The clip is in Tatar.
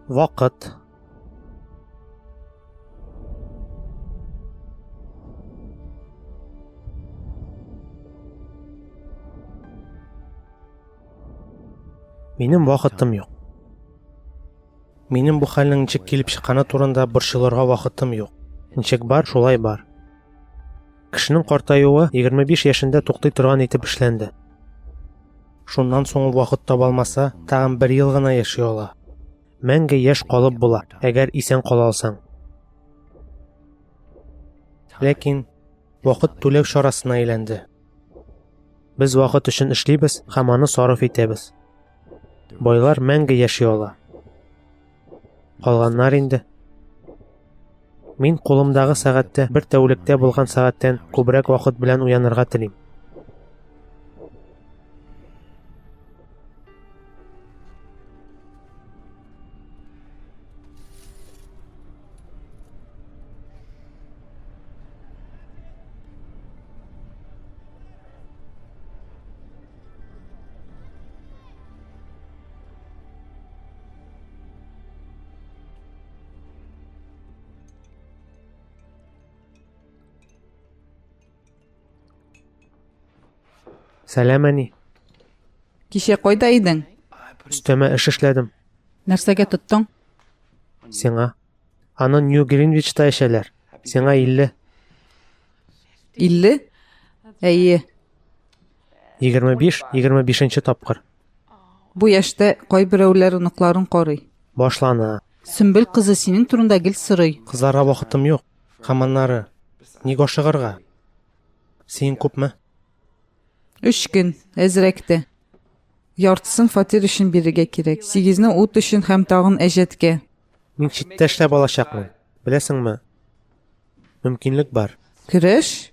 Вакыт. Минем вакытым юк. Минем бу хәлнең ничек килеп чыкканы турында борчылырга вакытым юк. Ничек бар, шулай бар. Кешенең картаюы 25 яшендә туктый торган итеп эшләнде. Шуннан соң ул вакыт таба алмаса, тагын бер ел гына яши ала. Мәңге яшь калып була, әгәр исән кала алсаң. Ләкин вакыт түләү чарасына әйләнде. Без вакыт өчен эшлибез һәм аны сарыф итәбез. Байлар мәңге яши ала. Калганнар инде. Мин кулымдагы сәгатьтә бер тәүлектә булган сәгатьтән күбрәк вакыт белән уянырга телим. Сәлам, әни. Кичә кайда идең? Өстәмә эш эшләдем. Нәрсәгә тоттың? Сиңа. Аны Нью Гринвичта эчәләр. Сиңа 50. 50? Әйе. Егерме биш, егерме бишенче тапкыр. Бу яшьтә кайберәүләр оныкларын карый. Башлана. Сөмбел кызы синең турында гел сорый. Кызларга вакытым юк. Һәм аннары. Ник ашыгырга? Син күпме? Өч көн, әзрәк тә. Яртысын фатир өчен бирергә кирәк. Сигезне ут өчен һәм тагын әҗәткә. Мин читтә эшләп алачакмын. Беләсеңме? Мөмкинлек бар. Көрәш?